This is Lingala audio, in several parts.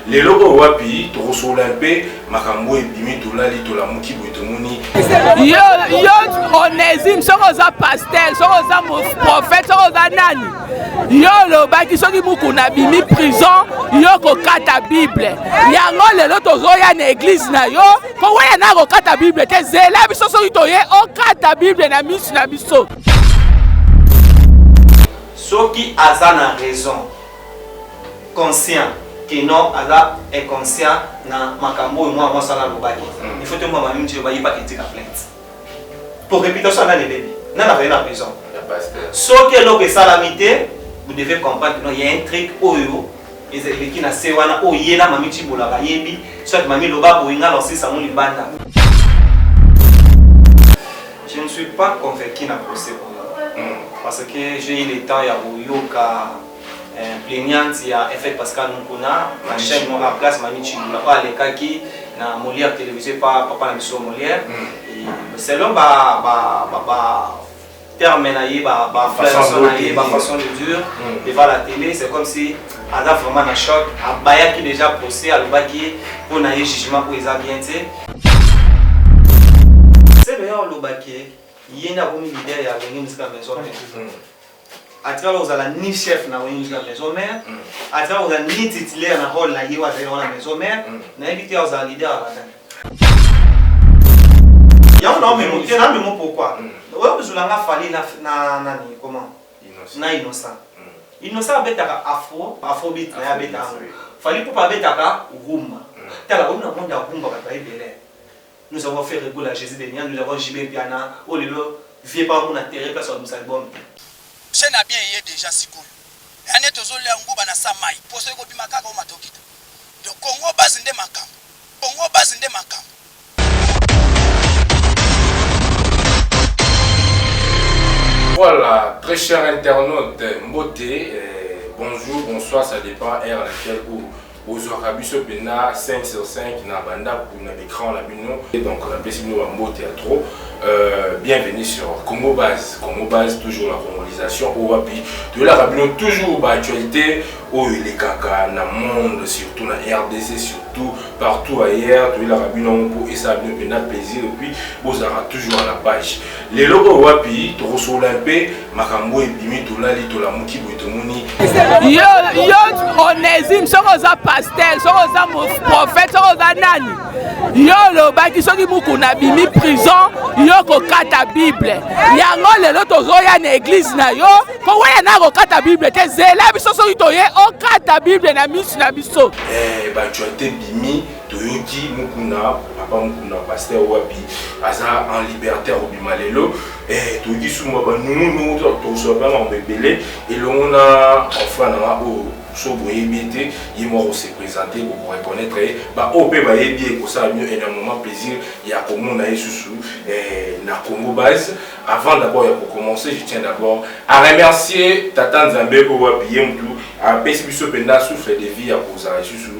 lelo oyo wapi tokosolola mpe makambo oyo ebimi tolali tolamuki boye tomoni yo yo onesime soki oza pasteur soki oza prophète soki oza nani yo olobaki soki mokuna abimi prison yo kokata bible yango lelo tozoya na eglize na yo koweya na kokata bible te zela biso soki toye okata bible na misu na biso soki aza na raison conscient que non aza inconscient na makambo oyo mwana mwasi wana alobaki mm. il faut toyeba mama mingi ba yebaki tika plainte pour réputation nani ebebi nani akoye na prison soki eloko esalami te vous devez comprendre que non il y a un truc oyo ezaleki na se wana oyo ye na mami cibola bayebi soit mami loba boyinga na osisa yango libanda Je ne suis pas convaincu na procès oyo parce que j'ai eu le temps ya koyoka eh, plaignante ya Effet Pascal Mukuna na chaîne moko en place Mami Chibula oyo alekaki na Molière télévisé pa papa na biso Molière Et selon ba ba ba, ba terme na ye ba ba Façon flairson na ye de ba dire. façon de dire Mm. devant la télé c'est comme si aza vraiment na choc abayaki déjà procès alobaki ye mpo na ye jugement oyo eza bien te selo ya olobaki ye nde akomi leader ya wenge mosika ya maison mère mm. atikala kozala ni chef na wenge mosika ya maison mère mm. atikala kozala ni titulaire na role na ye oyo azali wana maison mère mm. nayebi te ozala leader ya batani yango naomemo te namemo pourquoi oyo kozula nga fali na nani comment na innocent innocent abetaka afro afrobeat naye abeta yango fally ipupa abetaka rumba tala oyo na monde ya rumba bato baye ebele nous avons fait regula jésus de nia nous avons jb mpiana oyo lelo vie pa kuna terre place babimisa album te Chaine ya bien eye dejà sikoyo eya nde tozo lia nguba na sa mayi poso ekobima kaka omata okita donc congo base nde makambu congo base nde makambu. Voilà, très cher internaute, mbote, euh, bonjour, bonsoir, ça dépend heure à laquelle vous bozwaka biso mpenza 5 sur 5 na bandako na baécran na bino donc napesi bino bambote ya trop euh, bienvenue sur congo base congo base toujours la congolisation oyo wapi toyelaka bino toujours baactualité oyo elekaka na monde surtout na rdc surtout partout ailleurs toyelaka bino yango mpo esala bino mpena plaisir epuis bozalaka toujours na page lelo oyo wapi tokosolola mpe makambo oyo ebimi tolali tolamuki boye tomoni yo onesime soki oza pasteur soki oza prophète soki oza nani yo olobaki soki mokuna abimi prison yo kokata bible yango lelo tozoya na eglize na yo koweya na kokata bible te zela biso soki toye okata bible na misu na biso eh, bacuate bimi toyoki mukuna papa mukuna paster wapi aza en liberté akobima lelo eh, toyoki sumba banungunungu tokosola mpe makambo ebele elongo na enfant na nga oyo so boyebi ete ye mwa kose présente kokoreconnaitre ye baoyo mpe bayebi ye ekosala bino enormément plaisir ya komona ye susu eh, na congo base Avant d'abord ya ko commencer, je tiens d'abord à remercier Tata Nzambe oyo wapi ye mutu apesi biso mpenza souffle de vie ya kozala lisusu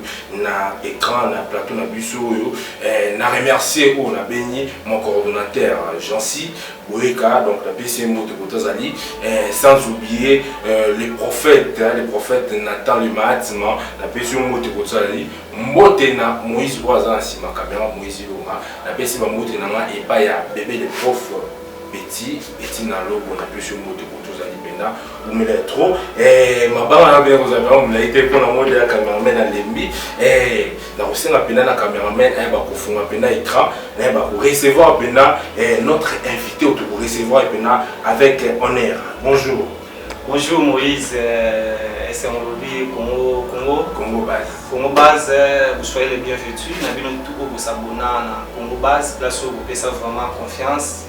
na écran na plateau na biso oyo eh, na remercier oyo nabengi mon coordonnateur Jancy Boyeka donc napesi ye mbote koto azali eh, sans oublier euh, les prophètes hein, les prophètes Nathan le Mahatma napesi yo mbote koto azali Mbote na Moïse oyo aza na sima camera Moïse Ilunga na pesi ba mbote na nga epa ya bebe le prof Betty Betty na lobo na pesi mbote ko tozali penda umela trop eh mabanga na beko za ba mulayi te pona mode ya cameraman na lembi eh na kosenga penda na cameraman eh ba kofunga penda écran eh ba ko recevoir penda eh notre invité to ko recevoir penda avec honneur bonjour Bonjour Moïse, euh, esengo lobi Congo Congo Congo base Congo base euh, vous soyez les bienvenus na bino tout oyo bosabona na Congo base place oyo bopesa vraiment confiance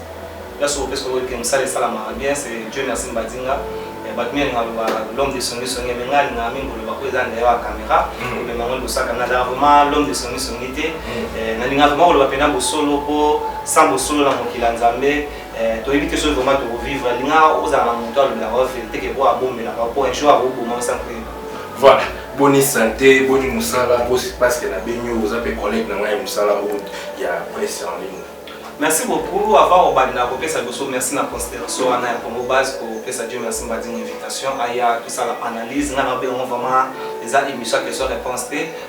place oyo bopesa oyo ke mosala esalamaka bien c'est Dieu merci Mbadinga euh, bato mingi alingaka loba l'homme de songi songi mais ngai alingaka mingi koloba oyo eza ndeya ya caméra mm. omema yango liboso ya caméra azala vraiment l'homme de songi songi te mm. nalingaka vraiment koloba mpena bosolo mpo sans bosolo na mokili ya nzambe Eh, toyebi te soki vraiment tokovivre alingaka ozala na moto alobelaka yo verité ke oyo abombelaka yo mpo un jour akoboma osa mpe voilà boni sante boni mosala parce que na beni oyo oza mpe collègue na ngai ya mosala oyo ya presse en ligne merci beaucoup avant obanda kopesa biso merci na considération wana ya congo base kopesa dieu merci mbadini invitation aya tosala analyse ngai na obengo vraiment eza émission question réponse te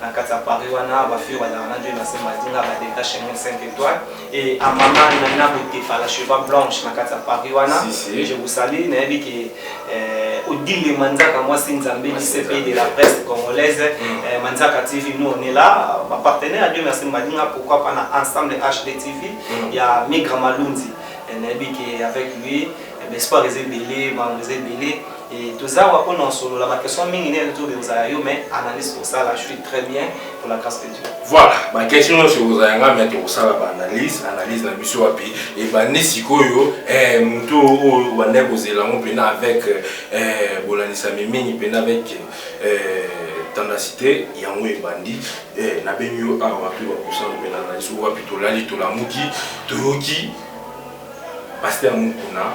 na kati ya paris wana ba fille bazalaka na joe nase madinga ba delta chemin 5 étoile et à maman nana botefa la cheva blanche na kati ya paris wana Si, si. je vous salue nayebi ke euh, odile manzaka mwasi nzambe dcp de la presse congolaise euh, manzaka tv nous on est là ba partenaire ya joe nase madinga pourquoi pas na ensemble hd tv ya migra malundi Eh, nayebi ke avec lui eh, ben, espoir eza ebele bango eza ebele Et toza wa pona solola ba questions mingi ne nzo bimza ya yo mais analyse pour ça là je suis très bien pour la grâce de Dieu. Voilà, ba question nyonso ekozala yanga mais tokosala ba analyse analyse na biso wapi ebandi sikoyo eh, moto oyo banda kozela yango mpena avec eh, bolanisami mingi mpena avec eh, tendacité yango ebandi eh, nabengi yo awa wapi bakosana mpena analyse wapi tolali tolamuki toyoki paster mokuna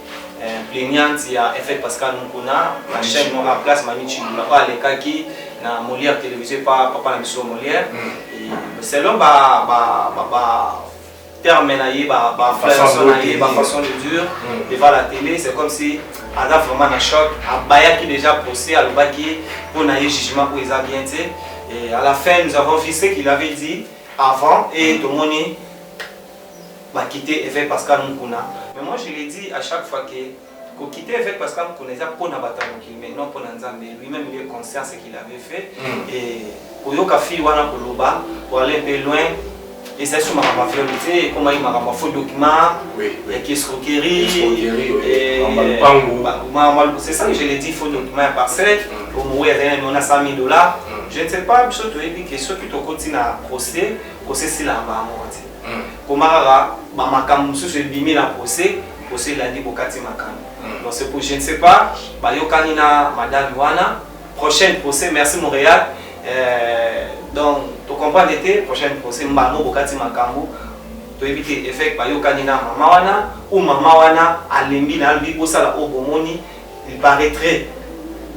eh, plaignante ya effet Pascal Mukuna na chaîne moko en place Mami Chibula oyo alekaki na Molière télévisé pa papa na biso Molière mm. selon ba ba ba, ba terme na ye ba ba façon na ye ba façon de dire mm. devant la télé c'est comme si aza vraiment na choc abayaki déjà procès alobaki mpo na ye jugement oyo eza bien te et à la fin nous avons vu ce qu'il avait dit avant et mm. tomoni ba quitter eveque Pascal Mukuna mais moi je l'ai dit à chaque fois que ko quitter eveque Pascal Mukuna eza pona batu ya mokili mais non pona Nzambe lui meme il est conscient ce qu'il avait fait et koyoka fille wana koloba pour aller un peu loin ezali so makambo ya viole te ekomaki makambo ya faux document ya kiescroquerie c'est ça que je l'ai dit faux document ya parcelle omowe azali na miona 100 000 dollars je ne sais pas biso toyebi ke soki tokoti na procès procès esilaka bango te mm. koma kaka ba makambo mosusu ebimi na procès procès elandi bokati makambo mm. donc c'est pour je ne sais pas bayokani na madame wana prochaine procès merci Montréal euh, donc to comprendre te prochaine procès mbango bokati makambo toyebi te effet bayokani na mama wana ou mama wana alembi na albi bosala oyo bomoni Il paraitrait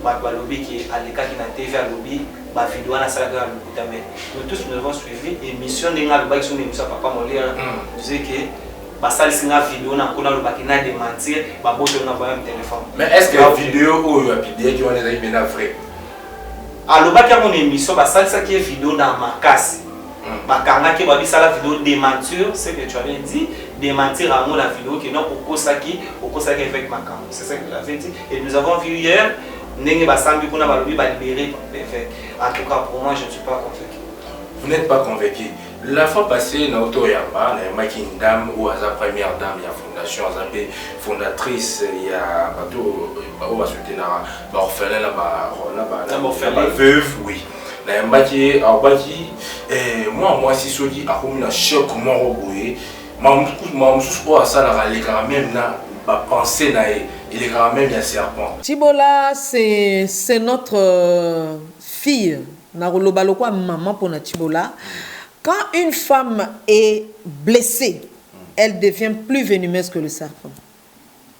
batu balobi que alekaki na TV alobi ba video wana asalaki kaka lokuta mais nous tous nous avons suivi emission ndenge alobaki sur emission ya papa Molière disait que basalisi nga video na kuna alobaki na dementir babotoli nga voyam telephone mais est ce que video oyo apidiaki wana ezalaki mpena vrai alobaki yango na émission basalisaki ye video na makasi bakangaki ye babisala video dementure ce que tu avais dit dementir yango na video ke donc okosaki okosaki avec makambo c'est ça que tu avais dit et nous avons vu hier ndenge basambi kuna balobi balibere l'évêque en tout cas pour moi je ne suis pas convaincu vous n'êtes pas convaincu la fois passée na auto yamba nayambaki une dame oyo aza première dame ya fondation aza mpe fondatrice ya bato oyo basoutenaka baorphelin na baveuve oui nayambaki ye alobaki eh, mwana mwasi soki akomi na choc moko boye makambo mosusu oyo asalaka alekaka meme na bapense na ye elekaka meme ya serpent cibola c'est notre euh, fille nakoloba lokwa mama mpo na cibola quand une femme est blessée elle devient plus venimeuse que le serpent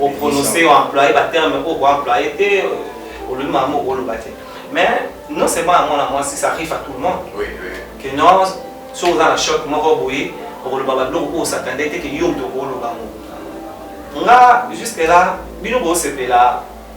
o prononcer o employer ba termes oyo ko employer te olobi makambo oyo oloba te mais non seulement ya mwana mwasi ça arrive à tout le monde oui, oui. que non soki oza na choc moko boye okoloba babiloko oyo osatande te ke yo moto okoloba yango nga jusque là bino bosepela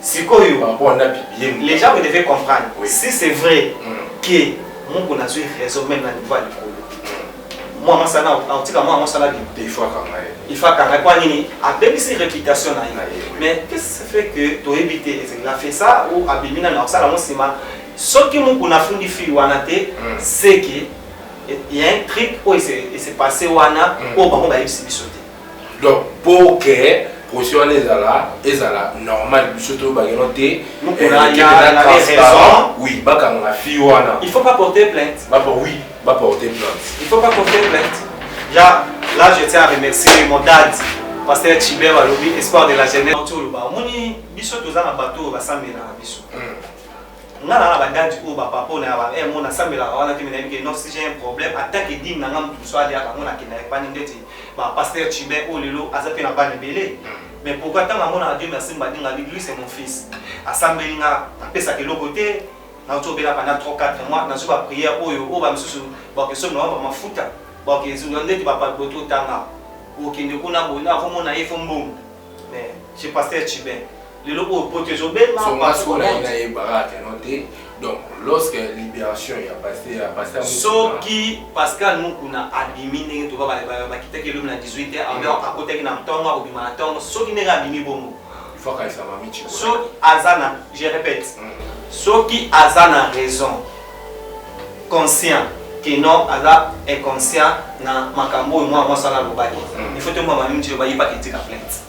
Sikoyo par rapport na Bibi les gens vous devez comprendre oui. si c'est vrai mm. que Mukuna azui raison même na niveau ya likolo mwa masana akotika mwa mosala bino il faut akanga ye il faut akanga mpo nini abebisi réputation na ye mais qu'est-ce qui fait que toyebi te ezali na fait ça ou abimi nani akosala yango nsima soki mokuna afundi fille wana te hmm. seke ya un trick oyo ese passé wana oyo hmm. bango bayebisi biso te donc pour que procès wana ezala ezala normal biso toyebaki no te oui bakanga fille wana il faut pas porter plainte bapa oui baporter plainte il faut pas porter plainte ya là je tiens à remercier mon dad pasteur chiber alobi espoir de la jeunesse omoni biso toza na bato oyo basambelaka biso hmm. nga na ba date oyo ba papa na ba eh mona sambela wana te mais nayebi que non si j'ai un problème attaque et dîme na nga mutu so alia ka mona kenda ya pani ndeti ba pasteur Chibin oyo lelo aza pe na bana ebele mais pourquoi tant mona Dieu merci mbadinga bi lui c'est mon fils asambeli nga apesa keloko te na to bela pendant 3 4 mois na zo ba prière oyo oyo ba misusu ba question na ba mafuta ba question ndeti ba pa boto tanga okende kuna bona akomona ye fo mbongo mais chez pasteur Chibin lelo oyo poto ezobema so nga sikoyo naye nayebaka ata no te donc lorsque libération ya paster ya paster soki pascal mukuna abimi ndenge toba bakitaki elobi na 18 te alors akotaki na ntongo akobima na ntongo soki ndenge abimi bongo soki aza na je répète mm. soki aza na raison conscient que non aza inconscient na makambo oyo mwana mwasi wana alobaki mm. il faut te mwa mamimi ti loba yebaki etika plainte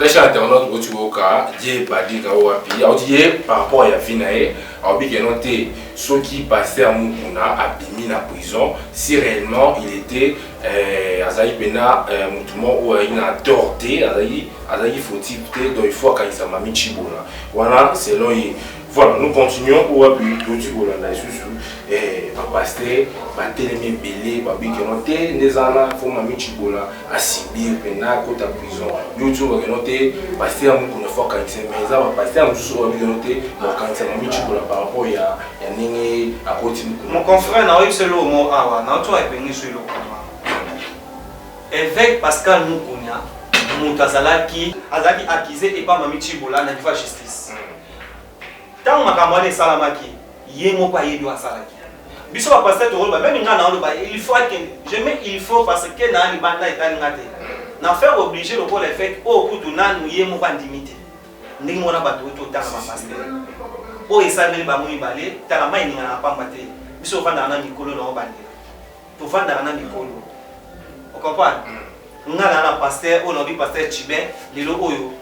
Très cher internaute, boti boka die badika o wapi auti ye par rapport ya vie na ye aobi ke non te soki pasteur mukuna abimi na prison si réellement il était euh, azalaki mpena euh, motu moko oyo azalaki na tort te azalaki azalaki fautif te donc il faut akanisa mami chibona wana selon ye Voilà, nous continuons pour appuyer tout ce qu'on a sous eh, ba pasteur, ba telemi belé, ba biki no te, ndezana, faut ma michi bola, a sibir, pena, kota prison. Yo tu vois que no te, pasteur mou kono fort kanse, mais za ba pasteur mou sous wa biki no te, ba kanse ma michi bola par rapport ya ya nenge a koti mou. Mon confrère na oyi selo mo awa, na oto ay bengi selo kama. Évêque Pascal Moukouna, moutazalaki, azalaki accusé et pas Mamichi Bola na justice. Mm. ntango makambo wana esalamaki ye moko ayebi oyo asalaki biso bapasteur tokoloba meme ngai naoloba il faut ake je mets il faut parce que naa libanda etali ngai te na faire oblige lokola efete oyo oh, kutu nanu ye moko andimi te ndenge mona bato oyo totanga bapasteur oyo oh, esalemeli bango mibale tala mai eninga na pamba te biso tofandaka na mikolo nango bandela tofandaka na mikolo okomprendre ngai naa na pasteur oyo naobi pasteur chibin lelo oyo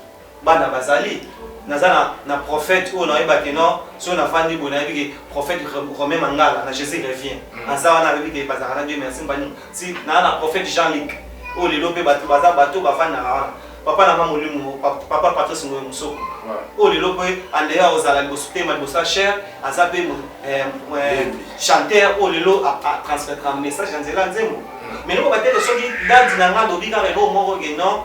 Bana bazali. Naza na, na prophète oyo nayeba ke non, soki nafandi boye nayebi ke prophète Romain Mangala na Jesus revient. Mm. Aza wana ayebi ke bazalaka na Dieu merci mbani. Si na na prophète Jean Luc. Oyo lelo pe bato baza bato bavandaka wana. Papa na nga molimo, papa Patrice Ngoyo Musoko. Oyo lelo pe andeya ah, ozala liboso tema liboso ya cher, aza pe eh, eh, chanteur oyo lelo a ah, ah, transmettre message ya nzela nzembo. Mm. Mais loko batele soki dadi na nga lobi kaka eloko moko ke non,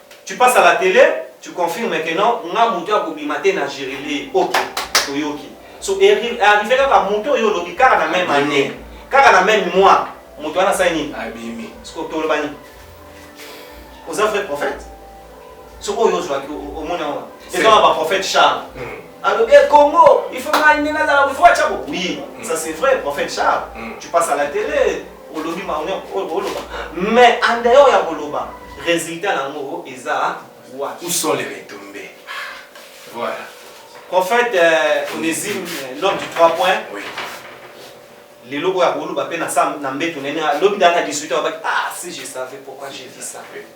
Tu passe à la tele tu confirme que non nga mutu ya kobima te na gerelee ok toyoki so arrive kaka mutu oyo olobi kaka na meme annee kaka na meme mois mutu wana asali nini abimi siko toloba nini oza vrai prophète so oyo ozwaki omoni yango eza na baprophète charles alobi hmm. congo il faut ngai nde nazala kofuatya bo oui hmm. ça c'est vrai prophète charles hmm. tu passe à la télé olobi makambo nyonso oyo oloba mais en dehors ya koloba résultat nango eza wapi où sont les retombées voilà prophète euh, onésime euh, l'homme du 3 points oui lelo oyo akoloba mpe na mbeto nene lobi dana 18 abaki ah si je savais pourquoi j'ai dit ça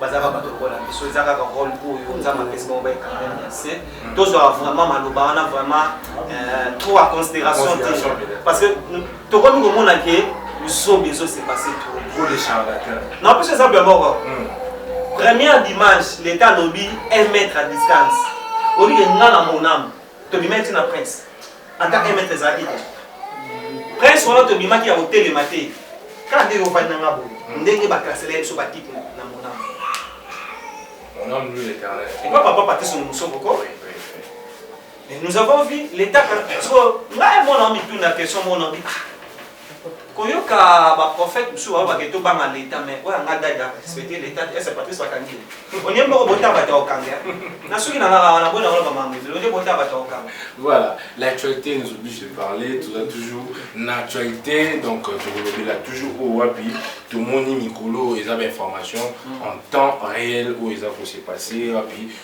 bazalaka bato lokola biso eza kaka role oyo nzambe apesi bango baekangani ya se tozwaka vraiment maloba wana vraiment euh, trop à considération te parce que tokomi komona ke lusobe ezosepase na plus eza bia moko hmm. première dimanche leta alobi un mètre à distance olike nga na moname tobimaki na prince ata un mètre ezalaki te prince wana tobimaki ya kotelema te kaka ndenge ofandi na nga boye hmm. ndenge baklasela ye biso batike na monamo epa papa patise no mosoko ko mais nous avons vu l'état so ngai mwana omituna question mona obi ah, koyoka ba prophète mususu ba bake to banga leta mais oya nga dada respecte leta te ese patrice bakangi onie mboko bota bato okanga na suki na ngaka wana boye nakola bamanga ezelo nde bota bato okanga voilà l'actualité nous oblige de parler toza toujours na actualité donc euh, tokolobela toujours oyo wapi tomoni mikolo eza ba information mm. en temps réel oyo eza kose passe wapi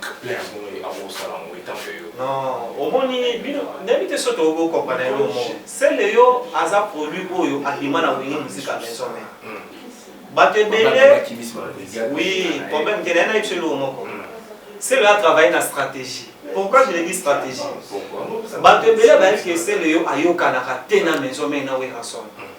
Kpler yango nini akosala yango etango ya yo? Non, omoni bino nayebi te soki tokoki kokompana eloko moko. Sele yo aza produit oyo abima na Wenge Musique ya Maison Mère. Hmm. Bato ebele oui, problème te naye nayebi biso eloko moko. Hmm. Sele a travailler na stratégie. Pourquoi je le dis stratégie? Bato ebele bayebi ke Sele yo ayokanaka te na Maison Mère na Werrason. Hmm.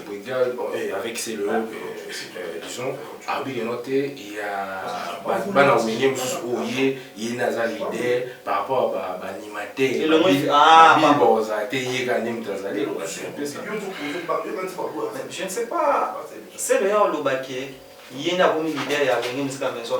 Legal, bon, eh, avec c'est le, euh, disons, arbitre de note, il y a bana wenye mosusu oyo ye ye naza leader par rapport à baanimateur bible ozala te ye ka nde moto azali je ne sais pas c'est le ya olobaki ye nde akomi leader ya wenye mosika maison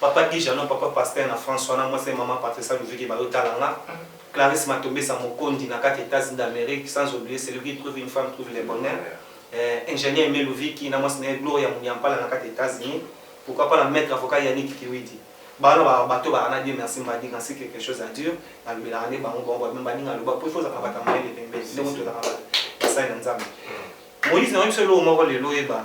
Papa Guy Jeannot, Papa Pasteur na France wana, mwasi ya Maman Patricia Luvike bayo tala nga, Clarisse Matombesa Mokondi na kati Etats-Unis d'Amerique, sans oublier celui qui trouve une femme trouve le bonheur, eh, Ingenieur Aime Luviki na mwasi na ye Gloria Munyampala na kati Etats-Unis, pourquoi pas na Maitre Avocat Yannick Kiwidi. Ba wana ba bateau ba rana Dieu merci mbadi quand si quelque chose a dur, na lobelaka nde bango, bango ba mbadi nga loba po il faut ozala na bato ya mayele pembeni, ndenge tozalaka ba basali na Nzambe. Moïse na yebisa yo eloko moko lelo oyeba,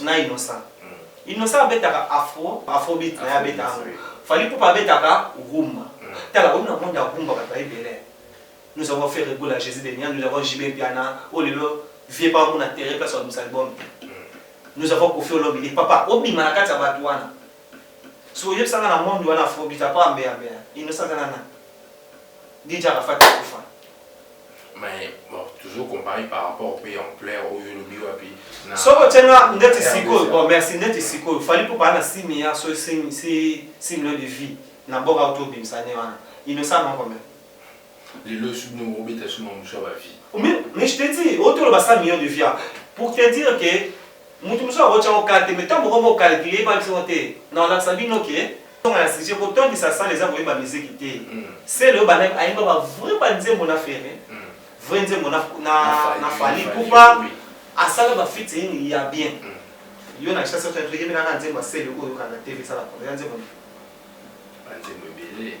na innocent innocent abetaka afro afrobeat na ye abetaka fali pupa abetaka rumba tala oyo na monde ya rumba bato ya ebele nous avons fait regola jésus de nia nous avons jb mpiana oyo lelo vie pa mona tere place babimisa album te nous avons kofi olomide papa obima na kati ya bato wana so oyebisanga na monde wana afrobeat apa ambeambeya innocent aza na nani dija arafat akufa Mais bon toujours comparer par rapport pe ampleur oyo olobi wapi na Soko tie nga ndeti sikoyo bon merci ndeti sikoyo Fally Ipupa na 6 milliards so 6 millions de vie na boka uto obimisa ne wana il ne ça non combien? Lelo soki no obeta suma musa ba vie. Mais mais je te dis oto loba 100 millions de via pour te dire que mutu mususu ako tia ngo carte mais tango moko bo calculer ye ba biso te na lakisa bino que Tonga na sujet ko tondisa salle eza koyeba musique te. Sele oyo bana ayemba ba vrai ba nzembo na Ferre. Vrai nzembo na na na Fally Ipupa asala ba featuring ya bien. Yo na chasse to yemela na nzembo ya Sele oyo kanda TV sala ko nzembo. Ba nzembo ebele.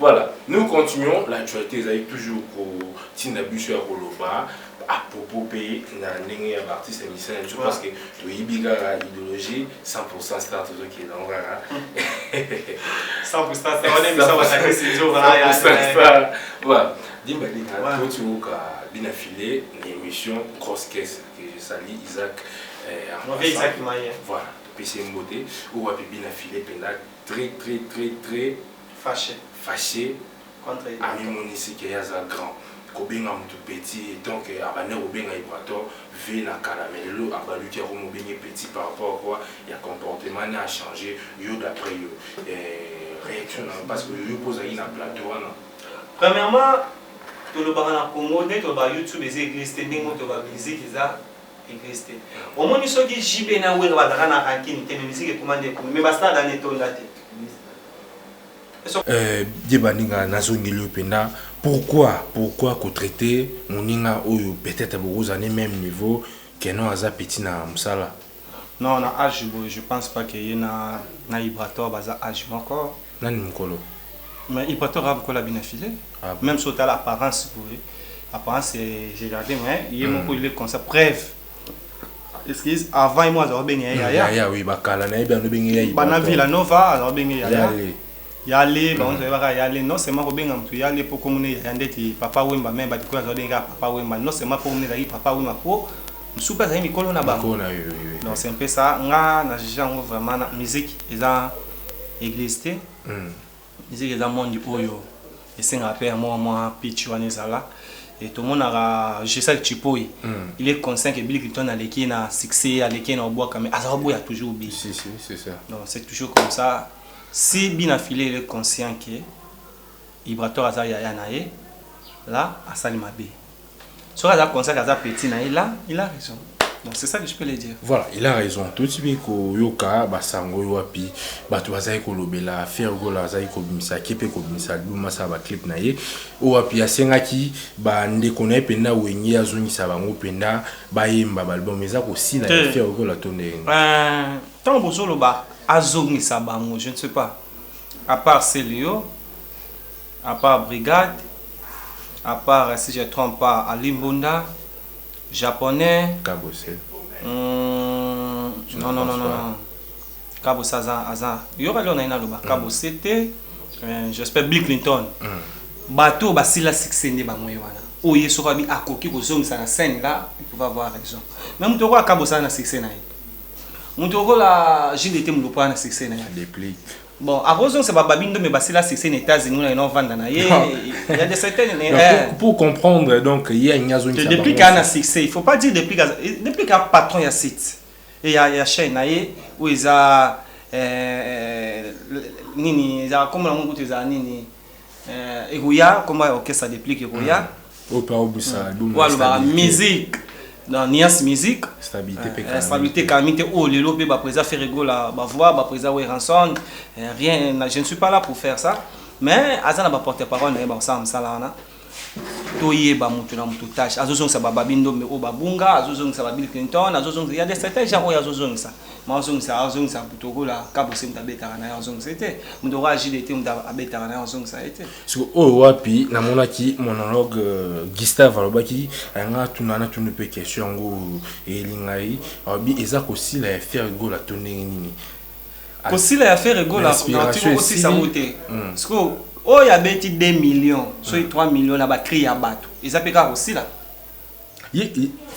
Voilà, nous continuons l'actualité ezali toujours kotinda biso ya koloba à propos mpe na ndenge ya baartiste ya misala biso parce que toyebi kaka idéologie 100% star tozokenda yango kaka 100% star wana emisa basakisi nzokaa voilà dimba linga totiyoka bina filet na émission grosse caisse que je sali isaac eh, voilà topesi ye mbote oyo wapi bina filet mpenza très très très très fache fache contre Ibrator amimonisi ke ye aza grand kobenga mutu petit etant ke abandaki kobenga Ibrator vie na kala mais lelo abaluki akomi obenge petit par rapport à quoi ya comportement naye a change yo d'après yo eh reaction nayo parce que yo pe ozalaki na plateau wana. Premièrement tolobaka na congo ndenge tolobaka youtube eza eglise te ndenge moko tolobaka musique eza. Eglise te. Omoni soki JB na Werra bazalaka na rancune te mais musique ekoma nde kuna mais ba stade wana etonda te. Euh, Dieu baninga nazongeli yo mpenza pourquoi pourquoi kotraite moninga oyo peut-être bokozala ne même niveau keno aza petit na mosala Non, na âge boye, je pense pas que ye na na Ibrator baza âge moko. Nani mukolo? Mais il patron aza mukolo abina filet ah bon? meme so tala apparence boye apparence je garde mais ye mm. moko il est comme ça preuve excuse avant ye moko azalaka benge ya yaya yaya oui bakala na ye bia nobenge ya bana villa nova azalaka benge yaya yale yale mm. bango toyebaka yale non seulement kobenga moto yale mpo komona yaya ndeti papa wemba meme badikoyo azalaka benge kaka papa wemba non seulement mpo komona ezalaki papa wemba mpo mosusu mpe azali mikolo na bango donc c'est mpe ça nga na juge yango vraiment na musique eza eglise te musique eza monde oyo esengaka pe ya mwa mwa pitch wana ezala et tomonaka Jesal Chipoy mm. il est conscient que Bill Clinton aleki na succès aleki na obwaka mais aza boya toujours bi si si c'est ça donc c'est toujours comme ça si Bina Filé il est conscient que Ibrator aza yaya na ye là asali mabe Soki aza conscient aza petit na il a il a raison. Donc c'est ça que je peux le dire. Voilà, il a raison. Toyeti mpe koyoka basango oyo wapi bato bazali kolobela Ferre Gola azali kobimisa ake mpe kobimisa album asala baclip na ye oyo wapi asengaki bandeko na ye mpenza wenge azongisa bango mpenza bayemba baalbum eza kosila ya Te. Ferre Gola to ndenge nini? Euh, ntango bozoloba azongisa bango je ne sais pas à part celio A part brigade, a part si je trompe pas Ali Mbunda, japonais, Kabose. Hum, non, non, non, non, non. Kabose aza, aza. Yoka leo naina loba, Kabose te, euh, j'espère Bill Clinton. Bato oyo basila succès nde bango ye wana. Oyo ye soki abi akoki kozongisa na scène là, il pouvait avoir raison. Mais moto lokola Kabose aza na succès na ye. Moto lokola JDT Mulopwe aza na succès na ye. Deplick. Bon, akozongisa ba babi ndombe basila succès na États-Unis na ino vanda na ye. Il y a des certaines mais eh. Pour, pour comprendre donc ye nya zongisa. Depuis qu'il y a un succès, il faut pas dire depuis depuis qu'il y a patron ya site et ya ya chaîne na ye où ils a euh nini eza comme na mutu eza nini Eh, ekoya komba ya orchestre deplic ekoya hmm. oyo aobisa hmm. alobaka musique na nias musique eh, stabilité kami te oyo oh, lelo mpe baprésa ferregola bavoi baprésa weranson eh, rien je ne suis pas là pour faire ça mais aza na baporte parole na ye bakosala mosala wana toyeba mutu na mutu tâche azozongisa ba babi ndombe oyo babunga azozongisa ba bill clinton azozongisa ya des certains gens oyo azozongisa ma azongisa azongisa mutu okola kabose mutu abetaka na ye azongisa ye te mutu okola jdt mutu abetaka na ye azongisa ye te siko oyo wapi namonaki monologue euh, gustave alobaki ayanga tuna na tuni mpe question yango elingai alobi eza kosila ya ferre gola to ndenge nini Kosila ya Ferre Gola na Otingo kosisa yango te. Sikoyo oyo abeti 2 millions soki 3 millions na ba cris ya batu eza pe kaka kosila?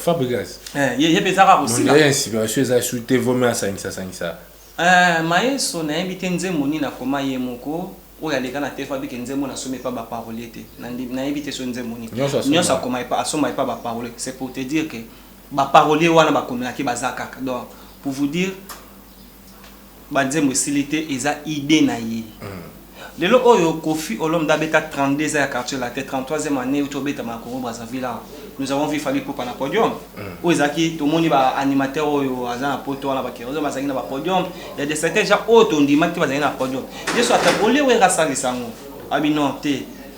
Fabregas ye pe eza kaka kosila? Modèle ya inspiration eza lisusu te vaut mieux asangisa sangisa. Eeh Maestro nayebi te nzembo nini akoma ye moko oyo aleka na te fabrique nzembo na somi epa ba parolier te na ndimi nayebi te soki nzembo nini nionso akoma epa asomba epa ba parolier c'est pour te dire que Ba parolier wana ba komela ke baza kaka donc pour vous dire ba nzembo esili te eza idee na ye lelo oyo koffi olomide abeta 32 ans ya quartier latin 33 eme annee euti obetama na Congo Brazzaville awa nous avons vu Fally Ipupa na podium oyo ezalaki tomoni ba animateur oyo aza na poto wana ba Kerozin bazalaki na ba podium ya de certains gens oyo tondimaki te bazalaki na podium ye soki ata olie werra asalisa yango alobi non te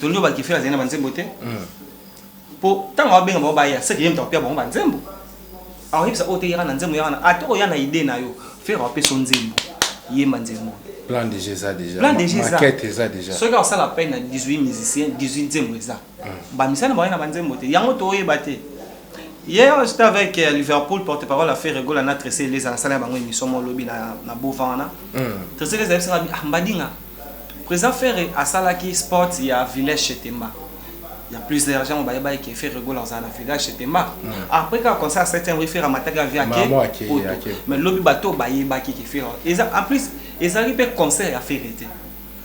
Tonio Bakifela azali na banzembo te mpo hmm. ntango abenga bango baya seke ye moto akopia bango banzembo akoyebisa oyo te yaka na nzembo yaka na ata oya na ide na yo fere apesa nzembo yemba nzembo plan déjà eza déjà plan déjà eza maquette eza déjà soki akosala peine na 18 musiciens 18 nzembo eza hmm. bamisani baye na banzembo te yango toyeba te Hier, j'étais avec euh, Liverpool, porte-parole à Ferre Gola, na Tressé, les Alassane, bango émission, mon lobby, na, na Bovana. Hmm. Tressé, les Alassane, ah, Mbadinga. President Ferre asalaki spot ya village chez Temba. Il ya plusieurs gens bayebaki que Ferre Gola azala na village chez Temba. Après kaka concert ya septième rue Ferre amataki avion ake poto. Mais lobi batu oyo bayebaki que Ferre eza en plus ezalaki pe concert ya Ferre te.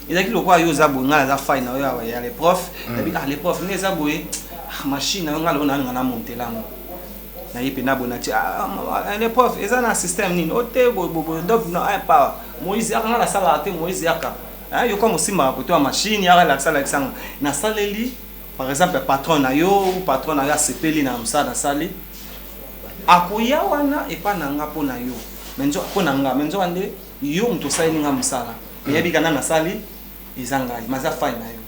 Ezalaki lokola yo oza boye ngai naza fan na yo ya le prof, nalobi ah le prof ndenge eza boye machine na yo ngai nalobi nalinga na montela yango. na ye pena bona ti ah, ah, ah, le prof eza na système nini ote oh, boye boye donc na un pas Moïse yaka nga na sala te Moïse yaka hein yo comme simba ko toi machine yaka la sala kisanga na saleli par exemple patron na yo ou patron na yo asepeli na msa na sali akoya wana epa na nga mpo na yo mpo na nga me nzoka nde yo moto osaleli nga mosala eyebi kana nasali eza ngai maza fai na yo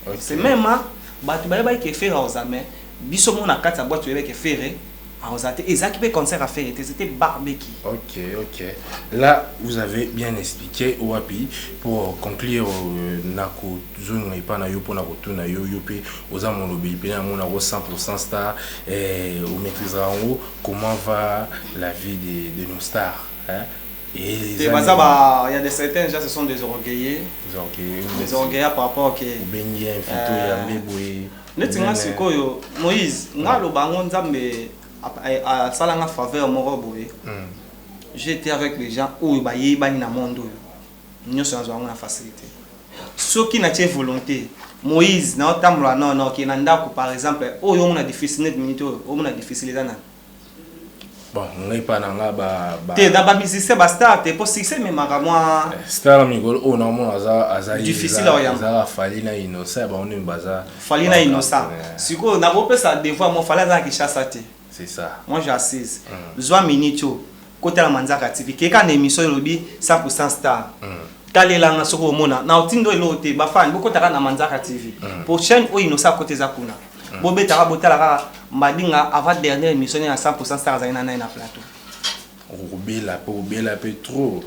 Okay. C'est même hein, batu bayebaki que Ferre aoza mais biso moko na kati ya boîte toyebaki que Ferre aoza te. Ezalaki pe concert ya Ferre te, c'était barbecue. Ok, ok. Là, vous avez bien expliqué wapi pour conclure euh, na kozonga epa na yo mpo na kotuna yo yo mpe oza molobeli mpe na yango nango 100% star eh, omaîtrisera yango comment va la vie de, de nos stars hein? te baza ba ya de certains gens ce sont des orgueilleux des orgueilleux par rapport que obengi invité euh, ya mbe boye neti nga sikoyo Moïse nga loba yango Nzambe asala nga faveur moko boye hmm. j'étais avec les gens oyo bayebani na monde oyo nyonso nazwa yango na facilité soki natie volonté moïse naotambola nono oke na ndako par exemple oyo omona difficile neti minute oyo omona difficile eza nani bon ngai epa na nga ba, ba... te na ba musicien ba star te po succès ememaka mwa eh, star na mikolo oyo naomona aza aza difficile ya oyamba aza fali na inosa ya bango nini baza fali na inosa sikoyo nakopesa devoir mo fali aza na kinshasa te c'est ça moi j'assise mm. zwa minute oyo kotala manzaka tv keka na émission elobi 100% star mm. talelanga soki omona na otindo eloo te bafani bokotaka na manzaka tv mm. prochaine oyo inosa akota eza kuna mm. bobetaka botala kaka madinga avant dernière émission na 100% star azali na naye na plateau okobela pe obela pe trop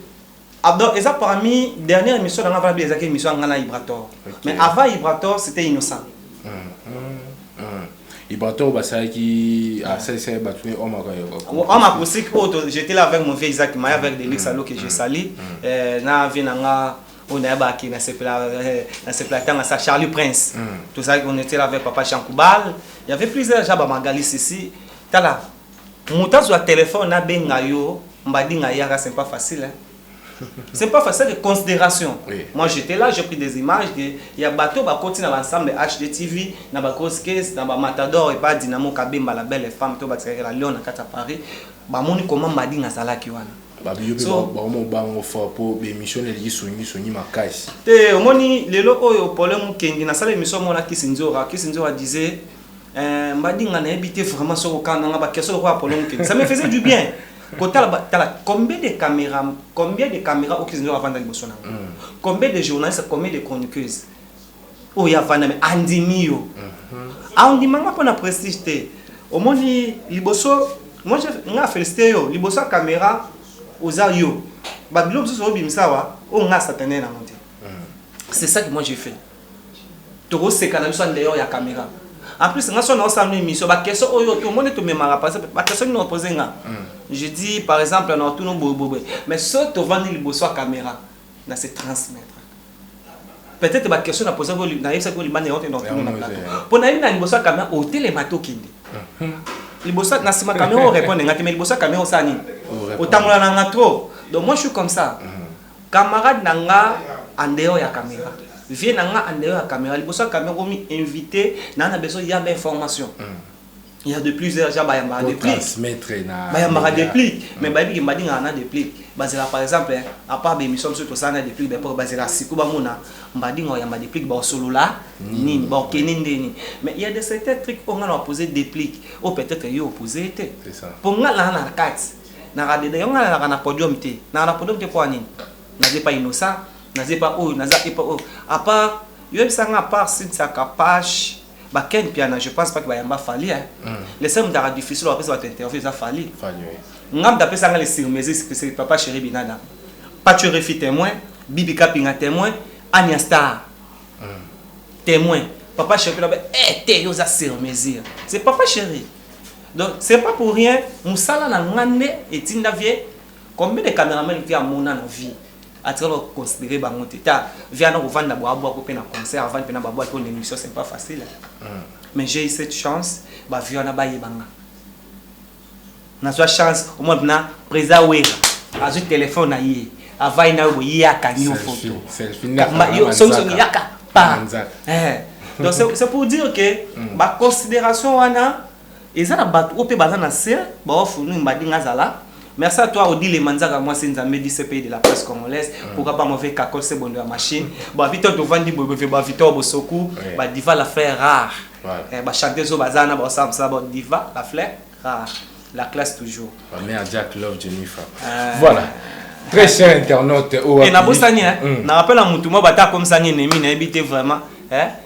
abdor ah, eza parmi dernière émission na nga vana bia ezaki émission ya nga na ibrator mais avant ibrator c'était innocent mm, mm, mm. ibrator basalaki asalisa ah, bato ne omaka homme acoustique oyo j'étais là avec mon vieux isaac maya avec delix alo que je sali eh, na vie na nga oyo nayebaki nasepela tanga sa charlie prince hmm. tozalaki on était là avec papa jean koubal il y avait plusieurs gens bamagali sisi tala moto azwa telefone abenga yo mbadinga yaka c'est pas facile hein? c'est pas facile de considération oui. moi j'étais là j'ai pris des images de ya bateau bakoti na l'ensemble hdtv na bagrose case na bamatador epa dynamo kabemba la belle femme to bakisaka la lion na kati ya paris bamoni comment mbadinga azalaki wana Babi yo pe So- ba omo bango fort po ba emission na eliki songi songi makasi. Te omoni lelo oyo Paulin Mukendi na sala emission moko na Kissinzora, Kissinzora disait eh, Mbadinga na yebi te vraiment soki okanga nga ba question lokola Paulin Mukendi. Ça me faisait du bien. Kotala ba- tala combien de caméra, combien de caméra au Kissinzora avanda liboso na nga. Combien de journalistes, combien de chroniqueuses. oyo avanda me andimi yo aondima nga mpo na prestige te omoni liboso moi nga félicité yo liboso ya caméra oza yo babilo mosusu obimisa awa oyo nga satane na yango te c'est ça que moi j'ai fait tokoseka na biso en dehors ya caméra en plus nga so naosala no émission bakeso oyo tomoni tomemaka par exemple bakeso nini opose nga je dis par exemple na otuna boyeboyeboye mais so tovandi liboso ya caméra na se transmettre peut-être ba question na posa ko na yebisa ko libanda yango te donc tuna na plateau po na yebina liboso ya camion o telema to kende liboso na sima camion o répondre ngati mais liboso camion sa nini o tambola na nga trop donc moi je suis comme ça camarade na nga en dehors ya caméra vie na nga en dehors ya caméra liboso ya camion ko mi inviter na na besoin ya ba information il y a de plusieurs gens bayambaka de plus bayambaka de plus mais bayebi ke mbadingaka na de plus bazela par exemple à part bémission biso tosala na de plus bapo bazela siku bamona mbadinga oyamba de plus baosolola nini baokende ndeni mais il y a de certains trucs oyo nga na opose de plus oyo peut-être yo opose ye te mpo nga naa na kati naka dede yo nga nalaka na podium te naka na podium te mpo ya nini naza epa innocent naza epa oyo naza epa oyo à part yoyebisa nga à part sintiaka pache ba Ken Mpiana je pense pas que bayamba Fally hein. Mm. Le seul mutu aka difficile apesa bato interview eza Fally. Fally oui. Nga mutu apesa nga le sur mesure c'est papa chéri Binada. Pacho Refi témoin, Bibi Kapinga témoin, Anya Star mm. témoin. Papa chéri là eh t'es oza sur mesure. C'est papa chéri. Donc c'est pas pour rien musala na ngande etinda vie combien de cameraman qui a mona na vie atika ba considere bango te ta via na kovanda bwa bwa ko pe na concert avandi pe na ba bwa to na emission c'est pas facile mais j'ai eu cette chance ba via na ba yebanga na zwa chance au moins na président wera azwi téléphone na ye avai na yo ye akangi yo photo yo songi songi yaka pa eh donc c'est pour dire que mm. ba considération wana Eza na batu oyo pe baza na se bawa funu mbadi nga zala Merci à toi Odile Manzaka mwasi Nzambe du CPI de la presse congolaise pourquoi pas mauvais kakol Sebondo ya machine bon abi toi tovandi boye boye ba Victor Bosoku ba Diva la fleur rare ba chanteuse oyo baza wana ba osala mosala ba Diva la fleur rare la classe toujours ba mère Jack Love Jennifer voilà très cher internaute oyo na bosani hein na rappelle mutu mwa bata comme ça ni ennemi na yebi te vraiment hein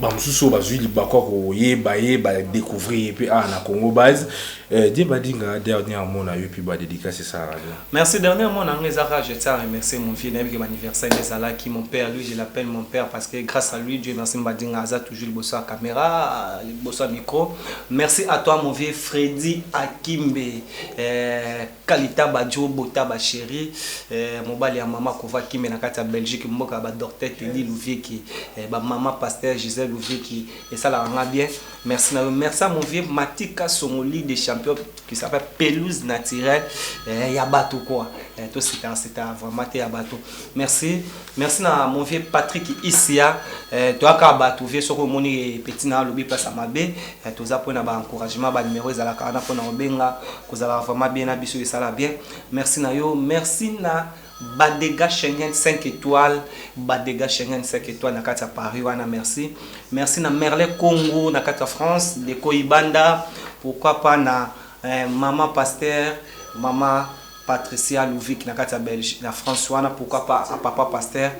bamosusu oyo bazwi libaku ya koyeba ye badecouvrir ye mpe awa na congo base eh, die badinga dernier amona yo mpe badedicace esalaka bien merci dernier amona yango eza kaka je tiens à remercier mon vieux nayebi ke baanniversaire nde ezalaki mon père lui je l'appelle mon père parce que grâce à lui dieu merci mbadinga aza toujours liboso ya caméra liboso ya micro merci à toi mon vieux freddy akimbe eh, Kalitaba djo botaba cherie eh, mobali ya mama kova kimbe na kati ya Belgique mboka ya ba docteur Teddy Luvieki eh, ba mama pasteur Gisèle Luvieki esalaka nga bien merci na yo merci à mon vieux Matika Songoli de champion qui s'appelle pelouse naturelle eh, ya bato quoi eh, to sita sita vraiment te ya bato merci merci na mon vieux Patrick Isia eh, toyaka bato vieux soki omoni eh, petit na alobi place ya mabe eh, toza mpo na ba encouragement ba numéro ezalaka wana mpo na obenga Kozalaka vraiment bien na biso esala bien merci na yo merci na ba degat Schengen 5 etoile ba degat Schengen 5 etoile na kati ya Paris wana merci merci na Merle Congo na kati ya France de Koibanda pourquoi pas na eh, maman pasteur maman Patricia Louvik na kati ya Belgique na France wana pourquoi pas à papa pasteur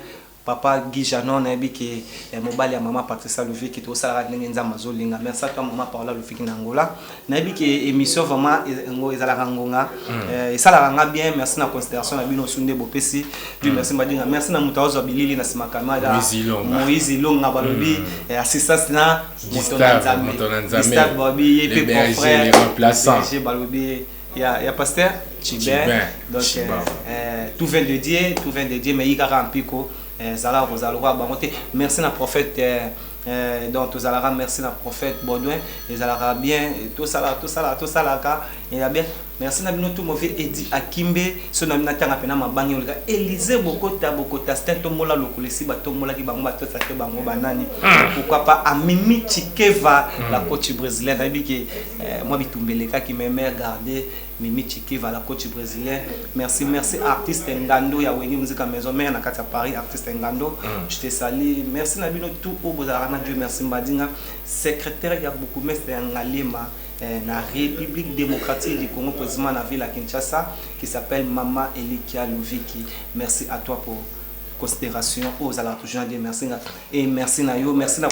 Papa Guy Jeannot nayebi ke mobali ya maman Patricia Luviki to sala kaka ndenge nzambe azo linga merci à toi maman Paola Luviki na Angola nayebi ke emission vraiment ngo ezalaka ngonga esalaka nga bien merci na consideration na bino su nde bopesi Dieu merci mba dinga merci na mutu azwa bilili na sima camera Moïse Ilonga balobi assistance na moto na nzambe Gustave balobi ye pe confrère balobi ya, ya pasteur Chibin. Donc Chibin. Euh, euh, tout vient de Dieu, tout vient de Dieu, mais yikaka mpiko euh, zalaka kozala lokola bango te. Merci na prophète euh, euh, donc tozalaka merci na prophète Baudouin ezalaka bien tosala tosala tosalaka eza bien merci na bino tout mauvais edi akimbe so na bino atanga mpena mabangi oleka elise bokota bokota stin tombola lokolo esi batombolaki bango batosa te bango banani hmm. pourquoi pas amimi chikeva la hmm. coach brésilienne nayebi ke Eh mwa bitumba elekaki mais mère garde Mimi Chikiva la coach bresilien merci merci artiste Ngando ya Wenge Musica Maison mère na kati ya Paris artiste Ngando je te salut merci na bino tout oyo bozalaka na Dieu merci Mbadinga secretaire ya bourgmestre ya Ngaliema eh, na République démocratique du Congo précisément na ville ya Kinshasa qui s'appelle Mama Elikia Luviki merci à toi pour considération oyo ozalaka toujours na Dieu merci nga et merci na yo merci na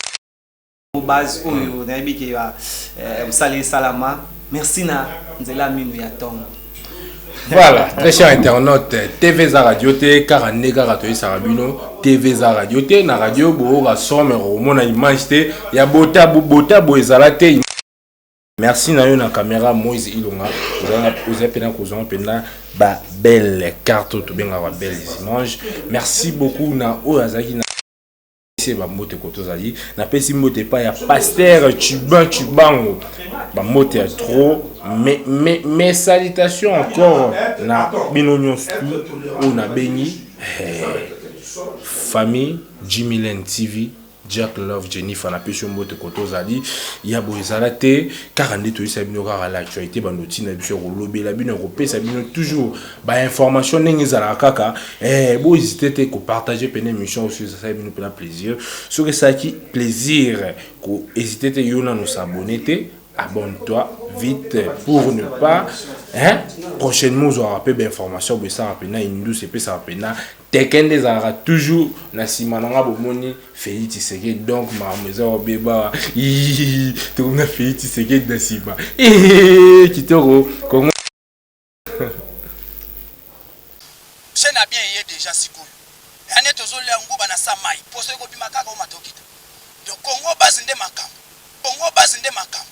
base oyo hmm. nayebi ke ya eh, mosala esalama merci na nzela mino ya ntongo voilà très cher internaute tv eza radio te kaka nde kaka toyesaka bino tv eza radio te na radio boyoka son me komona image te ya bota bota boye ezala te merci na yo na caméra moise ilonga oza mpena kozwa mpena babelle carte oyo tobengaka babelle images merci beaucoup na oyo azalaki na se bambote ko tozali napesi mbote epai ya pastere cubain cubango bambote ya trop mais me, me salitation encore na bino nyonso oyo nabengi eh, famille jimilen tv jack love jennifer napesi yo mbote koto ozali ya boye ezala te kaka nde toyisa bino kaka la actualité bando ntina biso ya kolobela bino ya kopesa bino toujours ba information ndenge ezalaka kaka eh, bo hésite te kopartage mpena émission oyo esali bino mpena plaisir soki esalaki plaisir ko hésite te yo nano s'abonne te abonne-toi vite pour ne pas hein, prochainement ozwaka mpe bainformation boye esaka mpena indus epesaka mpena teke nde ezalaka toujours na nsima na nga bomoni feli tiseke donc makambo eza obeba tokomi na feli tiseke na nsima kitoko kongo Chaine ya bien eye dejà sikoyo eya neti ozolia nguba na sa mayi poso ekobima kaka o matokito donc congo base nde makambu congo base nde makambu.